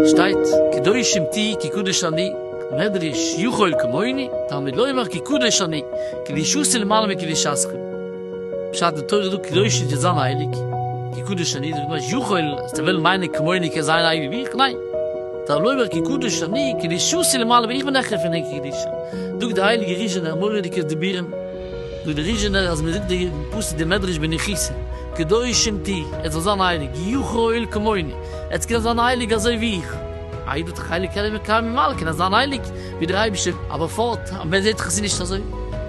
שטייט קדושים תהי' כי קדוש אני, מדרש יכול כמוני, תלמיד לא יאמר כי קדוש אני, קדישותי' למעלה מקדישתכם. פשט די תורה איז דא קדושה די זיין הייליג כי קדוש אני דאס מיינט יכול אז די וויל מיינע כמוני קען זיין הייליג ווי איך ניין דער לומר כי קדוש אני קדישותי למעלה ווי איך בין העכער פון אים קדישה זאגט די הייליגע ריזשענער מורא'דיגע דיבורים זאגט די ריזשענער אז מען זאגט די פסוק די מדרש בנחיצה קדושים תהי' ער זאל זיין הייליג יכול כמוני עטס קען זיין הייליג אזוי ווי איך א איד האט דאך הייליג כלים מקיימים על כן אז זיין הייליג. ווי דער אייבערשטער, אבער פארט אן ווען זעט זיך עס נישט אזוי,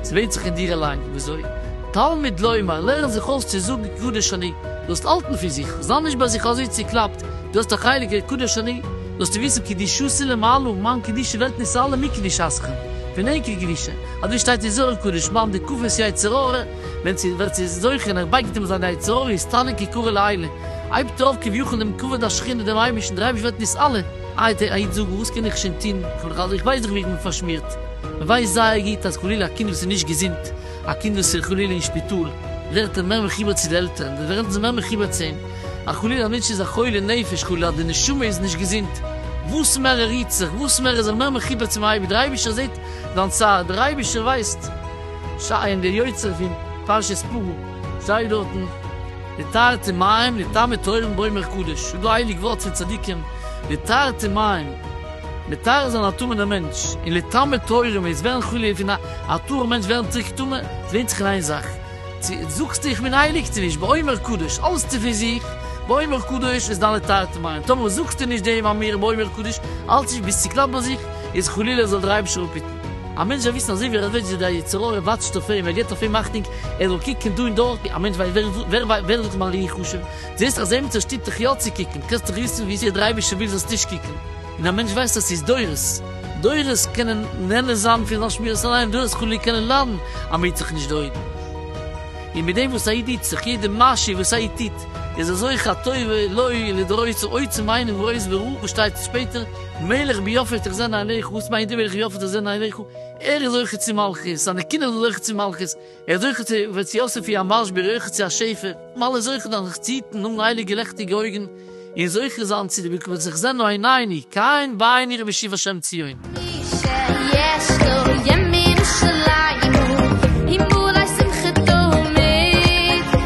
עס ווענדט זיך אין דיר אליין וויאזוי. תלמוד לומר, לערן זיך אויס צו זאגן קדוש אני, דו זאלסט האלטן פון זיך, זיי נישט ביי זיך אזוי צוקלאפט, דו האסט א חלק אין קדוש אני, זאלסטו וויסן קדושתי למעלה, מיין קדושה ווערט נסעלה מקדושתכם, פון ענקער קדושה, אזוי שטייט אין זוהר הקדוש, מים דקופות יצר הרע, ווען צו ווער ס'איז זוכה און ער בייגט אים זיינע יצר הרע איז תענוג כקורא לעילה, הייבט ער אויף כביכול דעם כבוד השכינה דעם אייבערשטן, דער אייבערשטער ווערט נסעלה. איי די איד זאג וואס קען איך שוין טון, כ'בין דאך אלס איך ווייס דאך ווי איך בין פארשמירט, מען ווייסט זייער גוט אז חלילה א קינד וואס איז נישט געזונט, א קינד וואס איז חלילה אין שפיטאל, ווערט ער מער מחובר צו די עלטערן, זיי ווערן מער מחובר צו אים, א חלילה א מענטש איז א חולה נפש, חלילה די נשמה איז נישט געזונט, וואס מער ער רירט זיך, וואס מער איז ער מער מחובר צום אייבערשטן, דער אייבערשטער זעט זיין צער, דער אייבערשטער ווייסט, שייין דער יוצר פון פרשת פרו שטייט דארטן. די תרתי מים לטעמי תורם באומר קדוש, ס'איז דא הייליג ווארט פון צדיקים, די תרתי מים מטהר זיין א טמא'נע מענטש, און לטעמי תורם איז ווערן חלילה פון א טהור מענטש ווערן צוריק טמא, עס ווענדט זיך אין איין זאך, צו זאגסטו איך בין הייליג צו נישט, באומר קדוש האלסטו פון זיך, באומר קדוש איז דיין לתרתי מים, טאמער זאגסטו נישט דעם אמיר באומר קדוש האלסטו נישט ביסטו קנאפ ביי זיך, איז חלילה זאל דיר אייבישטער אפהיטן. א מענטש וועט וויסן אזוי ווי ער ערוויטשט ווי דער יצר הרע וואטשט אויף אים, ער געט אויף אים אכטונג, ער זאל קוקן דא און דארט, א מענטש ווייסט ווער ווער זאגט מיין ראי' חשוב, זעסט אז עימיצער שטופט דיך יא צו קוקן, קענסטו דאך וויסן ווי אזוי דער אייבערשטער וויל זאלסט נישט קוקן, און א מענטש ווייסט אז ס'איז דורות, דורות קענען נהנה זיין פון זיין שמירת עיניים, דורות חלילה קענען ליידן אז מ'היט זיך נישט די אויגן, און מיט דעם וואס א איד היט זיך, יעדע מעשה וואס א איד טוט, איז ער זוכה א טובה, לוי' לדורות, צום עצם הענין וראי' וראו וואס שטייט שפעטער, מלך ביפת איך זען אייך, וואס מיינט דער מלך ביפת איך זען אייך? ער איז זוכה צו מלכות, זיינע קינדער זענען זוכה צו מלכות, ער איז זוכה צו וועט צו יוסף איר המשביר, ער איז זוכה צו א שפע, מען אלע זוכה דאן זיך צו היטן, האבן הייליגע לעכטיגע אויגן, און זוכה זיין צו די בקבץ איך זען אוי נייני, קיין ביין איך משיב השם ציון. מי שיש לו ימים של עיון, אם אולי שמחתו מעיק.